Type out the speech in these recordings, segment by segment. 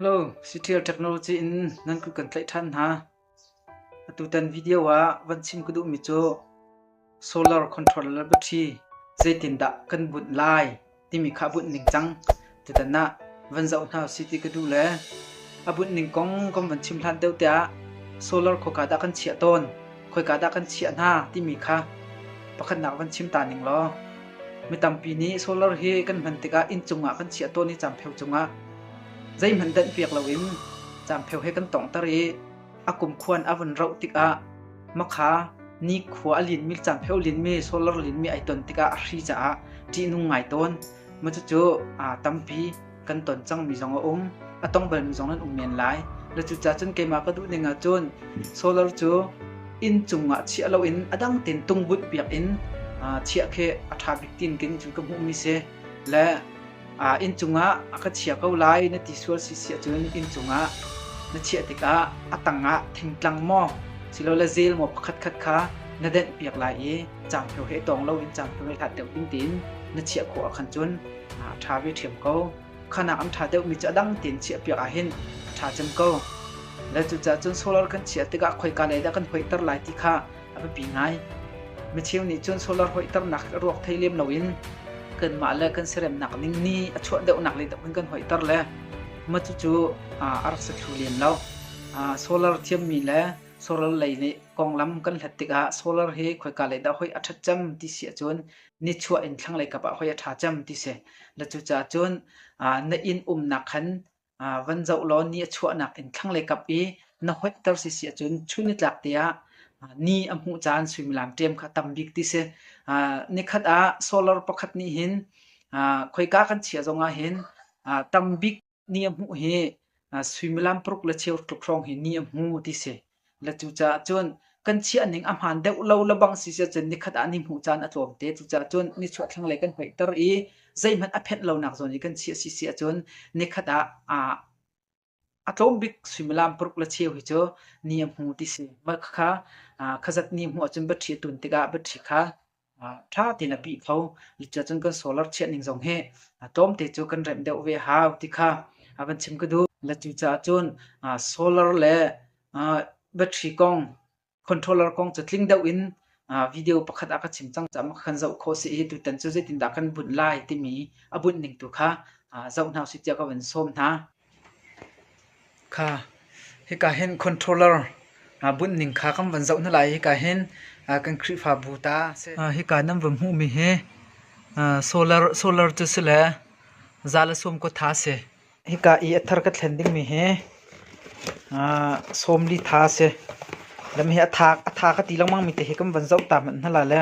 Hello, Siṭhial Technology in nan ku kan tlaih ṭhan hna. Atutan video ah van chim ka duhmi cu solar controller battery zeitindah kan bunh lai timi kha bunh ning cang. Tutan ah van zoh hna si ti ka duh le a bunh ning kong kan van chim hlan deuh tiah solar khoka dah kan chiah tawn, khoika dah kan chiah hna timi kha pakhatnak van chim ta ning law. Mi tampi nih solar hi kan hman tikah inncung ah kan chiah tawn i campeu cungah Zeihmanh danhpiak loin caampheo he kan tonghter i a kumkhuan a vun roh tikah makha nikhua a linmi, caampheo linmi, solar linmi ai ton tikah a hri caah ṭihnung ngai tawn. Maw cucu aa tampi kan ton cangmi zong a um. A tong balmi zong nan um men lai. Na cucaah cun keimah ka duh ning ahcun solar cu inn cungah chiah loin a dang tein tungbunh piak in aa chiah khi a ṭha bik tiin khin cun ka hmuhmi si. Le inn cungah a ka chia ko lai na ti sual si si ahcun inn cungah na chiah tikah a tangah thingtlang maw silole zel maw pakhatkhat kha na denh piak lai i cangpheo he tawng loin cangpheo he hlat deuh tingtin na chiah khawh ah khan cun a ṭha ve ṭhiam ko. Khanak an ṭha deuhmi cu a dang tein chiah piak ahhin a ṭha cem ko. Le cucaah cun solar kan chiah tikah khoika lei dah kan hoihter lai ti kha a biapi ngai. Micheu nih cun solar hoih ternak a ruak thei lem loin kanmah le kan seremnak ning ni a chuah deuhnak lei tang in kan hoih ter le mah cucu a rak si thlu len lo. solar thiammi le solar lei nih konglam kan hlat tikah solar hi khoika lei dah hoi a ṭhat cem ti si ahcun nichuah in thlanglei kap ah hoi a ṭha cem ti si. Na cucaah cun na inn umnak khan van zoh law ni a chuahnak in thlanglei kap i na hoihter si si ahcun chun nitlak te ah ni a hmuh caan suimilam ṭem kha a tam bik ti si. Nikhat ah solar pakhat nih hin khoika kan chiah zong ah hin tam bik ni a hmuh hi suimilam paruk le cheu tluk hrawng hi ni a hmu ti si. Na cucaah cun kan chiahning a hmaan deuh lo lebang si si cun nikhat ah ni hmuh caan a tlawm te. Cucaah cun nichuah thlanglei kan hoihter i zeihmanh a phenh lonak zawn i kan chiah si si ahcun nikhat ah a tlawm bik suimilam paruk le cheu hi cu ni a hmu ti si. Mah khakha khazat ni hmuh ahcun va ṭhi a tun tikah va ṭhi kha ṭha tein a pih kho. Cuticun kan solar chiah ning zong hi tlawmte cu kan remh deuh ve a hau ti kha a van chim ka duh. Cucaah cun solar le battery kong, controller kong cu tling deuh in video pakhat ah ka chim cang caah makha kan zoh khawh si i tutan cu zeitindah kan bunh lai timi a bunh ning tu kha zoh hna usih tiah ka van sawm hna. Hika hin controller bunh ning kha kan van zoh hna lai i hika hin kan Khrihfabu ta a si. Hika nan van hmuhmi hi solar cu si le za le sawm kua tha a si. Hika i a thar ka thlen dingmi hi sawm li tha a si. Lam hi a tha ka ti lengmangmi te hi kan van zoh ta hmanh hna la le.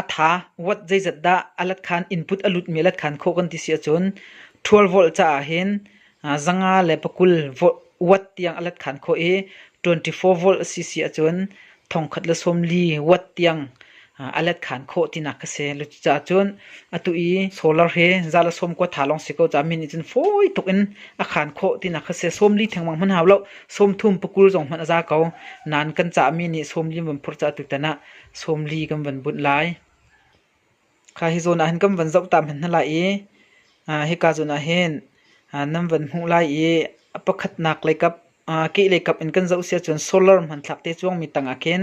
A tha, wat zeizat dah a latkhan input a lutmi a latkhan khawh kan ti si ahcun ṭhual volh caah hin zanga le pakul wat tiang a latkhan khawh i twenty four volt a si si ahcun thongkhat le sawmli wat tiang a latkhan khawh tinak a si. Cucaah cun atu i solar hi za le sawm kua tha lawng si ko caah mi nih cun fawi tuk in a khan khawh tinak kha a si. Sawmli thengmang hmanh hau lo, sawmthum pakul zong hmanh a za ko. Nain kan caah mi nih sawmli an vun phurh caah tutan ah sawmli kan van bunh lai. Kha hi zawn ah hin kan van zoh ta hmanh hna lai i hika zawn ah hin nan van hmuh lai i a pakhatnak lei kap kehlei kap in kan zoh si ahcun solar hmanthlak te cuangmi tangah khin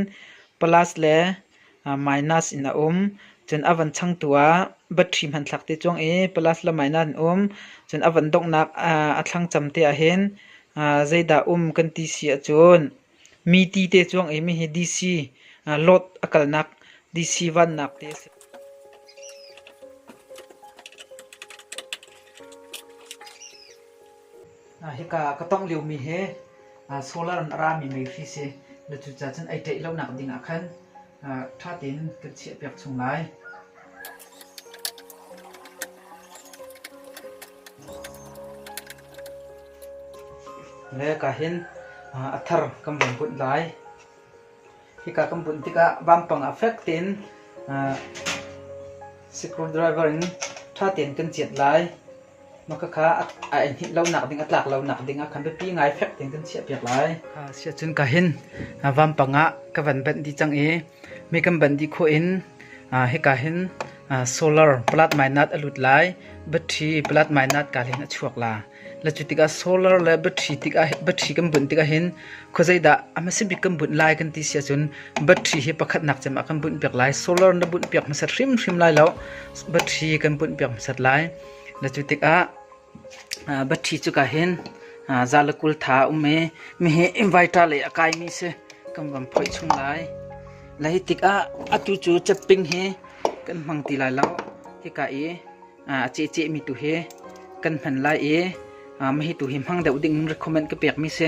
plus le minus in a um. Cun a van changtu ah battery hmanthlak te cuang i plus le minus in um. Cun a van donghnak a thlangcam te ah hin zeidah um kan ti si ahcun Mi tite cuang i hihi DC load a kalnak DC vannak te a si. Hika ka tongh liomi hi solar in a rami mei hri si. Na cucacun ai ṭeih lonak ding ah khan ṭha tein kan chiahpiak chung lai. Le ka hin a thar kan vun bunh lai. Hika kan bunh tikah vampang a fek tein screwdriver in ṭha tein kan ciat lai. Na ka kha a enhnih lonak ding a tlak lonak ding ah khan biapi ngai fek tein kan chiahpiak lai. Siacun ka hin vampang ah ka van banh dih cang i mi kan banh dih khawh in hika hin solar plat mainat a lut lai battery plat mainat ka hin a chuak la la cu tikah solar le battery tikah battery kan bunh tikah hin Khuazeidah a hmasabik kan bunh lai kan ti si ahcun battery hi pakhatnak cem ah kan bunh piak lai. Solar na bunh piak hmasat hrimhrim lai lo, battery kan bunh piak hmasat lai. Na cu tikah battery cu ka hin zalakul tha um i mihi inverter lei a kaimi si kan van phoih chung lai. Lai tikah atu cu cepping hi kan hmang ti lai lo. Hika i a cehcehmi tu hi kan hman lai i mahi tu hi hmang deuh ding in recommend ka pekmi si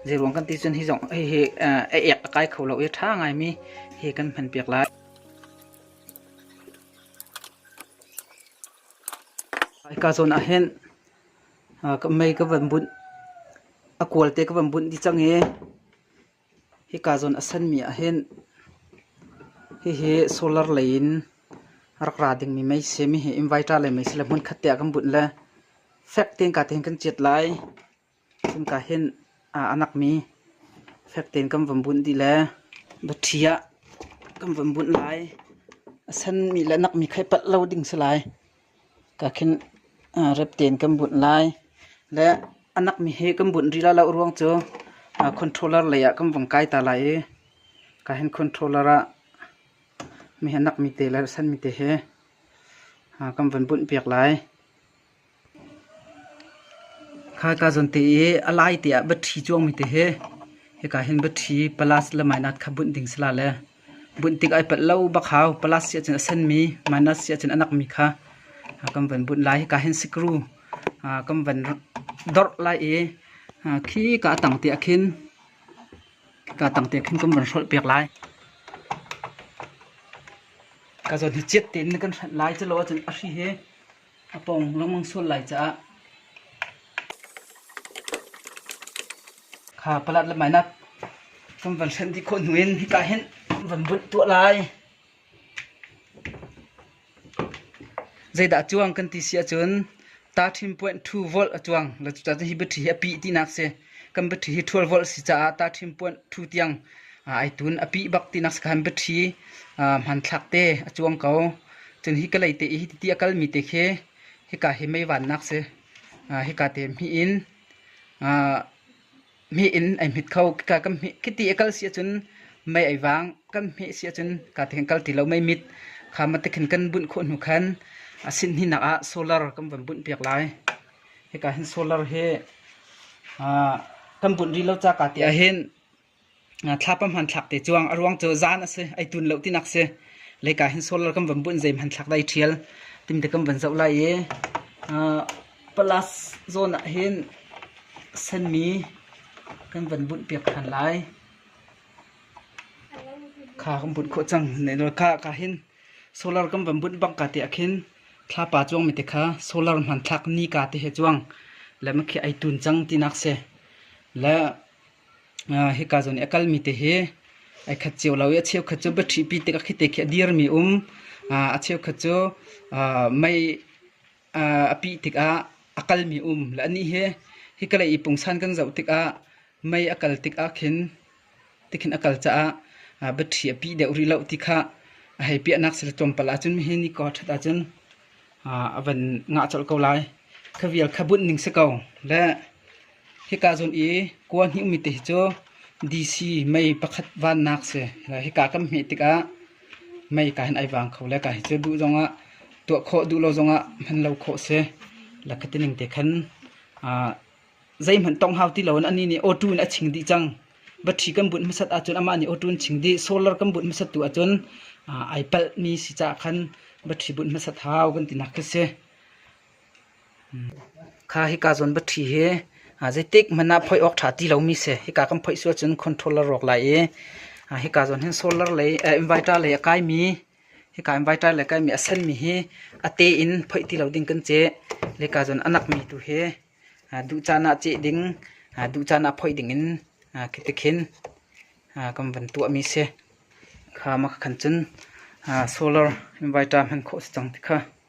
zeiruang kan ti cun hi zong hi a ek a kai kho lo i ṭha ngaimi hi kan hman piak lai ka zawn ah hin ka mei ka van bunh a kual te ka van bunh dih cang i Hika zawn a sanmi ah hin hihi solar lei in rak ra dingmi mei si. Mihi inverter lei mei si le hmunkhat te ah kan bunh le fek tein ka tein kan ciat lai. Cuka hin a nakmi fek tein kan van bunh dih le dawṭhi ah kan van bunh lai. A sanmi le nakmi kha i palh lo ding si lai. Ka khin rep tein kan bunh lai. Le a nakmi hi kan bunh rih lai loh ruang cu controller lei ah kan vung kai ta lai i ka hin controller ah mi hi nakmi te le sanmi te hi kan vun bunh piak lai. Khai ka zawn te i a lai te ah battery cuangmi te hi hika hin battery plus le minus kha bunh ding si la le Bunh tik ai palh lo bak hau. Palas siahcun a senmi, Manas siahcun a nakmi kha kan van bunh lai. Hika hin sikru kan van dorh lai i khi ka a tang tiah khin ka a tang tiah khin kan van hrolh piak lai. Ka zawn hi ciat tein na kan hranh lai. Culo ahcun a hri hi A pawng lengmang sual lai caah kha palat le mainak kan van hrenh dih khawh hnu in hika hin an van bunh tuah lai. Zeidah a cuang kan ti si ahcun ta ṭhim point 2 volt a cuang. Cucaah hi battery hi a pih tinak si. Kan battery hi ṭhual volh si caah tahṭhim puanh ṭhu tiang ai tun. A pih bak tinak sakhan battery hmanthlak te a cuang ko. Cun hi kalay te i hi ti a kalmi te khi hika hi meivannak si. Hika te hmih in hmih in ai hmit kho. Hika kan hmih khi ti a kal si ahcun mei ai vang. Kan hmih si ahcun hika te khin kal ti lo mei mit. Kha matik hin kan bunh khawh hnu khan a sinhninak ah solar kan von bunh piak lai. hika hin solar hi kan bunh rih lo ca ka ti ahhin thlapa hmanthlak te cuang a ruang cu zan a si ei tun lo tinak si leika hin solar kan van bunh zei hmanthlak dai ṭhial timte kan van zoh lai i plus zawn ah hin senmi kan van bunh piak ṭhan lai kha kan bunh khawh cang ne ka ka hin Solar kan van bunh bang ka te ah khin thlapa cuang mi te kha solar hmanthlak ni ka te he cuang le ma khi ai tun cang ti nak se le hi ka zon i akal mi te hi ai khat cheu lo i a cheu khat cu battery pi te ka khi te khi a dir mi um a cheu khat cu mei a pih tikah a kalmi um la anih hi hi kalei i pungsan kan zoh tikah mei a kal tikah khin tikhin a kal caah battery a pih deuh rih loh ti khah a hei piahnak sila tlawmpal ahcun hihi nicor ṭhat ahcun a van ngah colh ko lai. Kha vial kha bunh ning si ko le Hika zung i kua hnih ummi te hi cu DC mei pakhat vannak si. Hika kan hmeh tikah mei kaa hin ai vang kho le kaa hi cu duh zongah, tuah khawh duh lo zongah hman lo khawh si. Lak hiti ning te khan zeihmanh tong hau ti loin anih nih awṭu in a ching dih cang. Battery kan bunh hmasat ahcun amah nih awṭu in ching dih. Solar kan bunh hmasat tu ahcun ai palhmi si caah khan battery bunh hmasat hau kan tinak khi si. Kha hika zawnbatṭhi hi zeitik hmanh ah phoih awk ṭha ti lomi si. Hika kan phoih si ahcun controller rawk lai i hika zawn hin solar lei inverter lei a kaimi hika inverter lei kaimi a senmi hi a te in phoih ti lo ding kan ceh. Le hika zawn a nakmi tu hi duh caan ah ceh ding, duh caan ah phoih dingin khitikhin kan van tuahmi si. Kha mah khan cun solar inverter hman khawh a si cang ti kha.